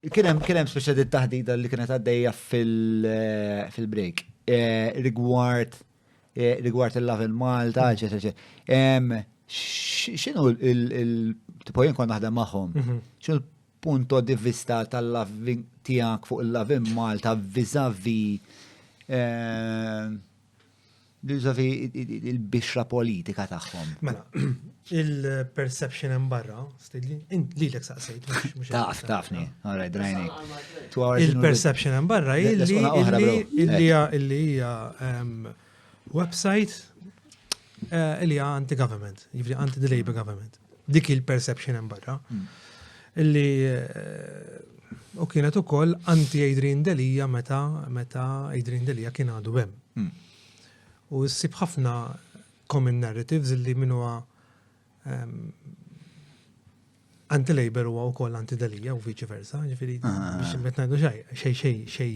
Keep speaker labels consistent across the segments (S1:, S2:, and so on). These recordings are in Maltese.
S1: Kien hemm kien hemm speċjal taħdida li kienet għaddejja fil-break eh, rigward eh, rigward il-love in Malta, eċetera, eċetera. X'inhu il-tipo jien kont naħdem magħhom? Mhm. X'inhu punto di vista tal-loving tijak fuq il-loving Malta vizavi eh, Biżofi il-bixra politika tagħhom. Mela,
S2: il-perception hemm barra, stidli, li l saqsejt. Taf, tafni,
S1: għara drajni. Il-perception
S2: hemm barra illi hija ehm, website eh, illi hija anti-government, jivri anti-the Labour government. Dik il-perception hemm barra. Hmm. Illi eh, u kienet ukoll anti Adrian Delija meta meta Adrian Delija kien għadu hemm. Hmm. U ssib ħafna common narratives illi min huwa ehm, anti-labor huwa wkoll anti-delija u viċi versa, ġifieri ah, ah, ah. biex qed ngħidu xej, xej, xej, xej.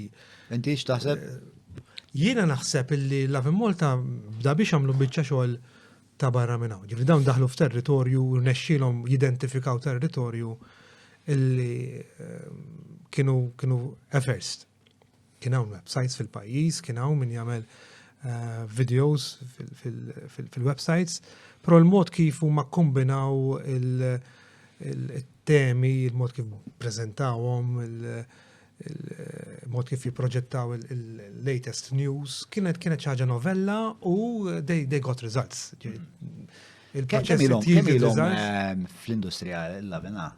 S2: Inti x'taħseb? Eh,
S1: jiena
S2: naħseb illi Love Malta bda biex għamlu biċċa xogħol ta' barra minn hawn. Ġifieri dawn daħlu f'territorju u rnexxielhom jidentifikaw territorju illi ehm, kienu kienu efferst. Kien hawn websites fil-pajjiż, kien hawn min jagħmel eh, videos fil-websites, però l-mod kif huma kombinaw il- temi, il-mod kif prezentawhom, il-mod kif jiproġettaw il-latest news, kienet kienet ċaġa novella u they, they got results.
S1: Il-proċess il-om ehm, fl-industrija l-lavina?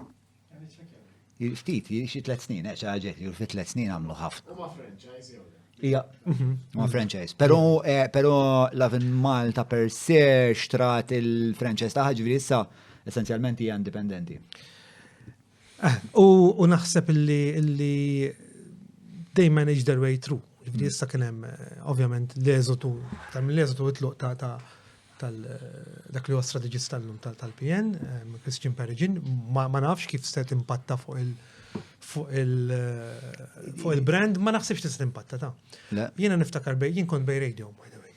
S1: Ftit, xi tlet snin, eh, ċaġet li fi tlet snin għamlu ħafna. Ma franchise
S3: jew
S1: Ija, mhm. ma franchise. Pero, eh, pero Lavin Malta per se xtrat il-franchise taħħa ġviri issa essenzjalment hija indipendenti.
S2: U naħseb illi they manage their way through. Ġifri issa kien hemm ovvjament l-eżotu, tal l-eżotu itluq ta' ta' tal dak li huwa strateġista llum tal-PN, Christian Perigin, ma nafx kif se timpatta fuq il- fuq il-brand, ma naħsibx tista' timpatta ta'. Jiena niftakar bej, jien kont bej radio, by the way.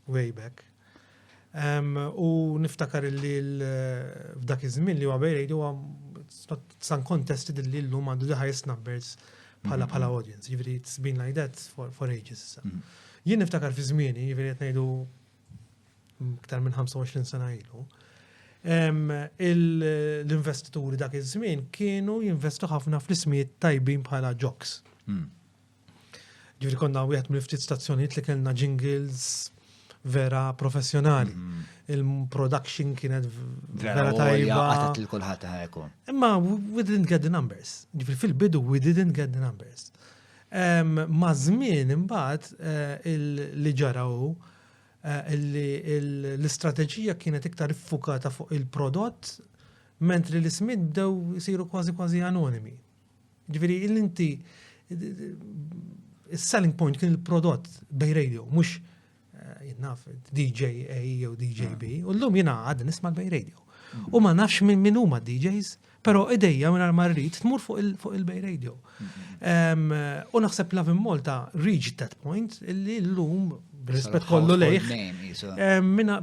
S2: way back. U niftakar li f'dak iż-żmien li huwa bejrejdi huwa san kontesti li llum għandu the highest numbers bħala mm-hmm. bħala audience, jiġifieri it's been like that for, for ages issa. Mm-hmm. Jien niftakar fi żmieni, jiġifieri qed ngħidu iktar minn 25 sena ilu, l-investituri dak iż-żmien kienu jinvestu ħafna fl-ismijiet tajbin bħala jocks. Mm. Ġifieri konna wieħed mill-ftit stazzjonijiet li kellna jingles vera professjonali. Mm-hmm. Il-production kienet vera tajba. Għatat il-kulħat
S1: ħajku. Imma we
S2: didn't get the numbers. Ġifri fil-bidu we didn't get the numbers. Ma żmien imbagħad eh, li ġaraw eh, l-istrateġija kienet iktar iffukata fuq il-prodott mentri l-ismid bdew siru kważi kważi anonimi. Ġifieri li inti is-selling point kien il-prodott bej radio, mhux eh, jinnaf DJ A jew DJ B, u llum jiena għad nisma' bej radio. U ma nafx minn min huma DJs, però idejja minn ma rrid tmur fuq il-bej radio. U naħseb Lavin Malta reached that point illi llum rispett kollu lejh. Minna,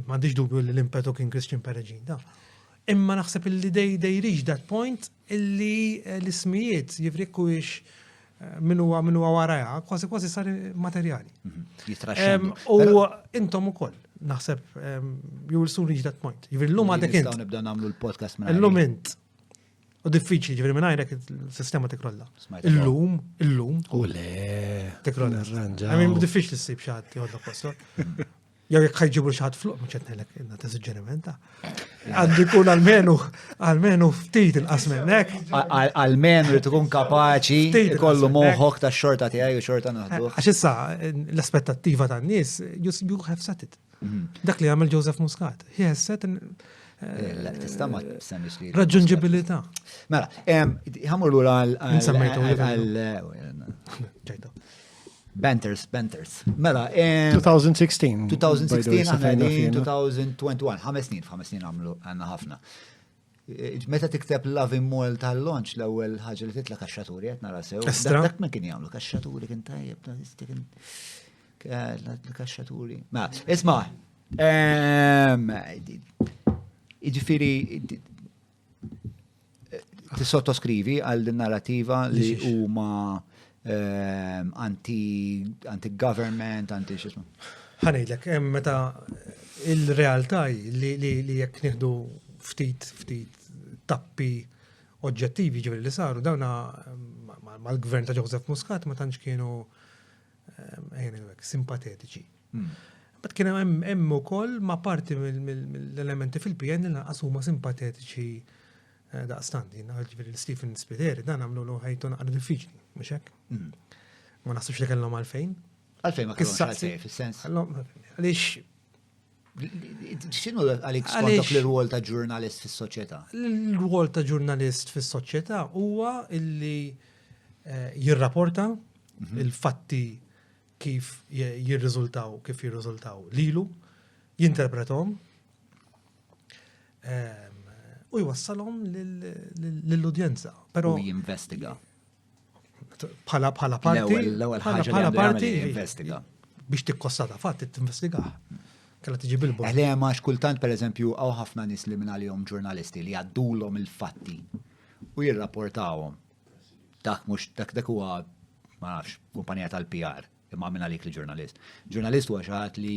S2: ma dubju li l-impetu kien Christian Perigin, da. Imma naħseb illi they, they reach that point illi eh, l-ismijiet jivri jekk huwiex eh, min huwa min huwa waraja, kważi kważi sar materjali. Mhm. Jitraxxendu. U intom ukoll naħseb you will soon reach that point. Jivri l-lum għadek int. nibda nagħmlu l-podcast
S1: minn L-lum int.
S2: U diffiċli ġivri minn għajrek il-sistema tikrolla. Illum, illum. U le.
S4: Tikrolla.
S2: Għamim diffiċli s-sib xaħat jgħodna posto. Jew jekk ħajġibu xi ħadd fluq mhux qed ngħidlek inna ta' suġġerimenta. Għandu jkun almenu almenu ftit inqas minnek. Almenu li
S1: tkun kapaċi kollu moħħok ta' xorta tiegħi u xorta naħdu. Eh, għax issa
S2: l-aspettattiva tan-nies you, you have set it. Mhm. Dak li għamel Joseph Muscat. He has set eh, eh,
S1: Tista ma semmix li. Raġunġibilità.
S2: Mela,
S1: ħamur l-ura għal. Banters, Banters. Mela, 2016. 2016,
S4: għana
S1: għedin 2021, ħames snin, ħames snin għamlu għanna ħafna. Eh, meta tikteb Loving Mall tal-launch l-ewwel ħaġa li titla kaxxaturi qed nara sew. Dak ma kien jagħmlu kaxxaturi kien tajjeb kaxxaturi. Ma, isma', ehm, jiġifieri Tissottoskrivi għal din narrativa li huma ehm, anti-government, anti xismu. Ħanidlek,
S2: meta il-realtà li jekk nieħdu ftit ftit tappi oġġettivi ġivri li saru, dawna mal-gvern ta' Joseph Muscat ma tantx kienu ehm, simpatetiċi. Bat kien hemm ukoll ma' parti mill-elementi fil-PN li lanqas huma simpatetiċi eh, daqstant, ġifieri Stephen Spiteri dan għamlu l ħajtu naqra diffiċli, mhux hekk? Hmm. Ma naħsibx li kellhom għalfejn. Għalfejn ma kellhom
S1: għalfejn fis-sens.
S2: Għaliex
S1: Xinu għalik skontok l-rwol ta' ġurnalist fis soċjetà L-rwol ta'
S2: ġurnalist fis soċjetà huwa illi eh, jirrapporta mhm. il-fatti kif jirriżultaw, kif jirriżultaw lilu, jinterpretom ehm, u jwassalhom lill-udjenza. Però
S1: jinvestiga.
S2: Bħala bħala parti. L-ewwel ħaġa bħala
S1: parti jinvestiga. Biex tikkossata
S2: fatt tinvestiga. Kalla tiġi bil-bol. Eħle eh, ma kultant
S1: pereżempju hawn ħafna nies li minn għalihom ġurnalisti li għaddulhom il-fatti u jirrapportawhom. Dak mhux dak dak huwa ma nafx, kumpanija tal-PR, imma minn għalik li ġurnalist. Ġurnalist huwa xi ħadd li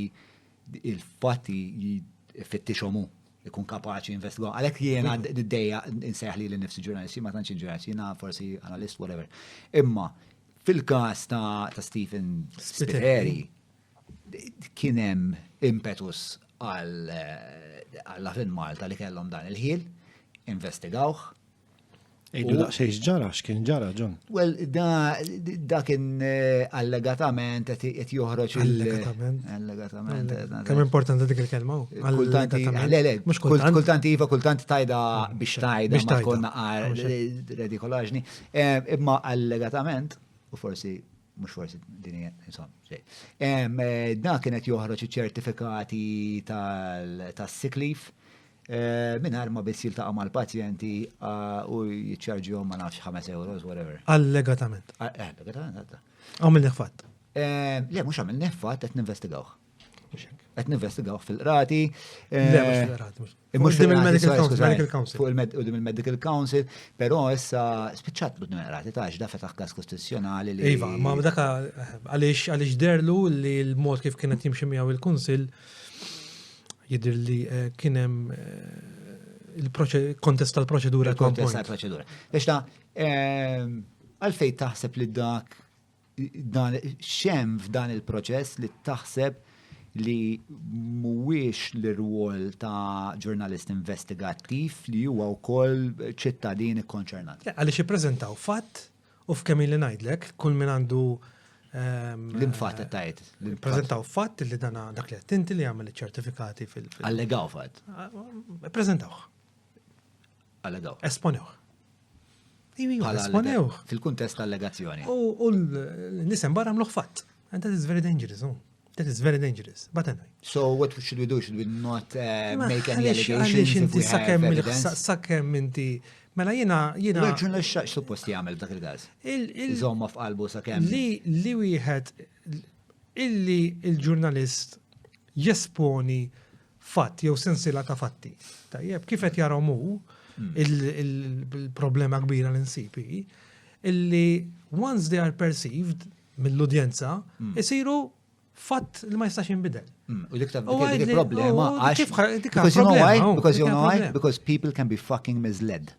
S1: il-fatti fittixhom hu ikun kapaċi investigaw. Għalhekk jiena d-dejja insejħ li l-nifsi ġurnalisti ma tantx ġurnalisti, jiena forsi analist, whatever. Imma fil-każ ta' Stephen Spiteri kien hemm impetus għal-Latin Malta li kellhom dan il-ħil, investigawh,
S3: Ejdu daqsej ġara, x'kien ġara, John? Well,
S1: da kien eh, allegatament qed joħroġ Allegatament. Allegatament.
S2: Eh, Kemm importanti dik il-kelma? Kultant kultant
S1: iva, kultant tajda biex tajda ma konna redikolaġni. Eh, imma allegatament, u forsi mux forsi din insomma, xej. Da kienet joħroġ ċertifikati tas-siklif. Ta Eh, Minħar ma biss jiltaqa mal pazjenti ah, u jitċarġihom ma nafx 5 euros, whatever. Allegatament. Ah,
S2: eh, allegatament, għadda.
S1: Għaw minn fatt.
S2: Eh, le, mux
S1: għamil nefat, għet ninvestigawħ. Għet ninvestigawħ fil-rati. Le,
S2: mux fil-rati. Mux fil-medical council. Fuq il-medical
S1: council, pero issa spiċċat bud rati ta' ġda fetaħ kas kostituzjonali li. Iva, ma daka
S2: għalix derlu li l-mod kif kienet jimximjaw il-kunsil Jidir li eh, kienem eh, il-kontest tal-proċedura. Il-kontest tal-proċedura.
S1: Biex ta' ehm, għalfej taħseb li dak dan xem f'dan il-proċess li taħseb li mhuwiex l-rwol ta' ġurnalist investigattiv li huwa wkoll ċittadin ikkonċernat. Għaliex ippreżentaw
S2: fatt U f'kemm li ngħidlek, kull min għandu ehm,
S1: L-imfat tajt. Prezentaw fatt
S2: li dana dak li għattinti li għamil ċertifikati fil- Allegaw fatt.
S1: Prezentaw. Allegaw. Esponew.
S2: Esponew. Fil-kuntest allegazzjoni.
S1: U l-nisem
S2: barra mluħ fatt. And that is very dangerous. Oh. That is very dangerous, but anyway. So what should we do?
S1: Should we not uh, make any allegations? Inti sakemm sakemm inti
S2: Mela jina jina. Reġun li xaqx
S1: suppost jagħmel dak il-gaż. Iżomma f'qalbu sakemm. Li li wieħed
S2: illi il-ġurnalist jesponi fatt jew sensila ta' fatti. Tajjeb, kif qed jarhom hu hmm. il-problema kbira l-insipi, illi once they are perceived, mill-udjenza, isiru fatt li ma jistax jinbidel. Mm, u dik dik
S1: problema għax. Because you know why? Because you know why? Because people can be fucking misled.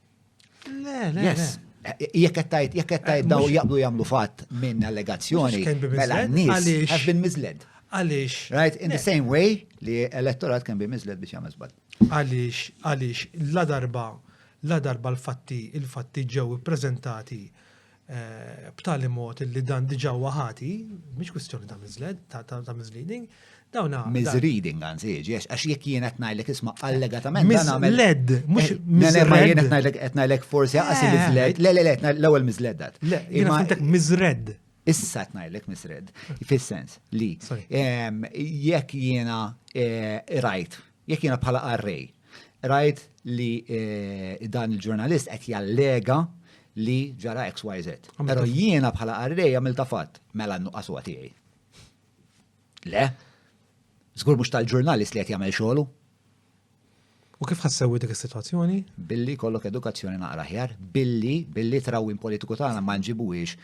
S1: Le, le.
S2: Yes.
S1: Jekk qed tajt, jekk qed tajt eh, daw jaqblu jagħmlu fatt minn allegazzjoni, mela n-nies have been misled. Għaliex. Right,
S2: in the same way
S1: li elettorat can be misled biex jagħmel żball. Għaliex, għaliex,
S2: la darba, la darba l-fatti, il-fatti ġew ippreżentati eh, b'tali mod li dan diġa huwa ħati, mhix kwistjoni ta' miżled, ta' misleading, dawna. Misreading għanzi,
S1: għax jek jien qed ngħidlek isma' allegatament. Misled, mhux
S2: eh, misled. Ma jien qed ngħidlek
S1: forsi għas eh. misled, le le le, l-ewwel misled dat. Le, jien għandek
S2: miżred. Issa qed ngħidlek
S1: misred, fis-sens li jekk jiena rajt Jekk jiena bħala qarrej rajt li eh, dan il-ġurnalist qed jallega li ġara XYZ. Però jiena bħala qarrej għamilta fatt, mela n-nuqqas huwa tiegħi. Le? Żgur mhux tal-ġurnalist li qed jagħmel xogħlu. U
S2: kif ħassewi dik is-sitwazzjoni? Billi kollok
S1: edukazzjoni naqra ħjar, billi billi trawwin politiku tagħna ma nġibuhiex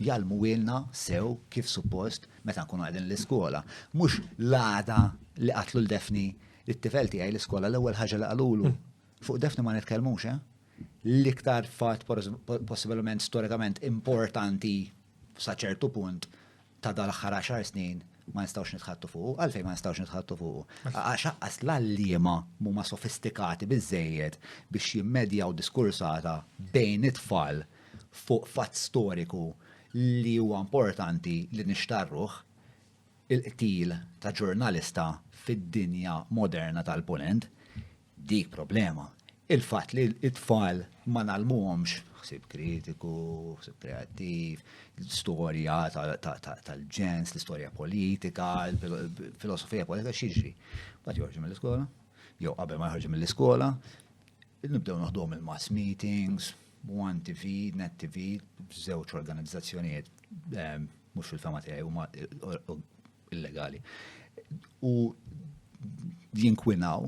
S1: jgħallmuhielna sew kif suppost meta nkunu qegħdin l-iskola. Mhux l-għada li qatlu l-Defni it-tifel tiegħi l-iskola l-ewwel ħaġa li qalulu. Fuq Defni ma nitkellmux, eh? L-iktar fatt possibilment storikament importanti sa ċertu punt ta' dal-aħħar 10 snin ma nistawx nitħattu fuqu, għalfej ma nistawx nitħattu fuqu. Għax aqqas l-allima huma sofistikati biżejjed biex jimmedjaw diskursata bejn it-tfal fuq fatt storiku li huwa importanti li nixtarruh, il-qtil ta' ġurnalista fid-dinja moderna tal-Punent, dik problema. Il-fatt li t-tfal ma ngħallmuhomx ħsieb kritiku, ħsieb kreattiv, storja tal-ġens, l-istorja politika, filosofija politika x'jiġri. Mbagħad joħorġu mill-iskola, jew qabel ma joħorġu mill-iskola, Nibdew noħduhom il-mass meetings, One TV, Net TV, żewġ organizzazzjonijiet ehm, mhux fil-fema tiegħi huma illegali. U jinkwinaw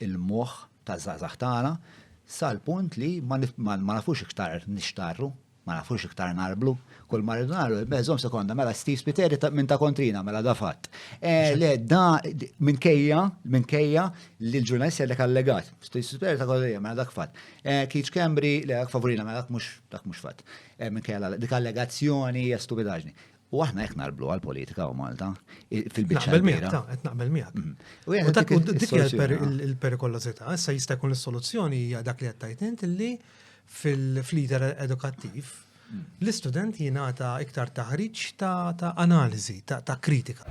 S1: il-moħħ ta' żgħażagħ tagħna sal-punt li ma nafux iktar nixtarru Ma nafux iktar narblu. Kull ma rridu nagħmlu, mela żomm sekonda, mela Steve Spiteri minn ta' kontrina, mela da fatt. Eh, le, da minkejja, minkejja li l-ġurnalist jgħidlek allegat. Steve Spiteri ta' kontrina, mela dak fatt. Eh, Keith Cambry, le dak favorina, mela dak mhux dak mhux fatt. Eh, minkejja dik allegazzjoni hija stupidaġni. U aħna hekk narblu għall-politika u Malta fil-biċċa. Naqbel miegħek, ta' qed naqbel
S2: miegħek. Mm-hmm. U dak dik il-perikolożità, issa jista' jkun is-soluzzjoni hija dak li qed tajt int li fil-lider edukattiv mm. l-istudent jingħata iktar taħriġ ta' analiżi, ta' kritika.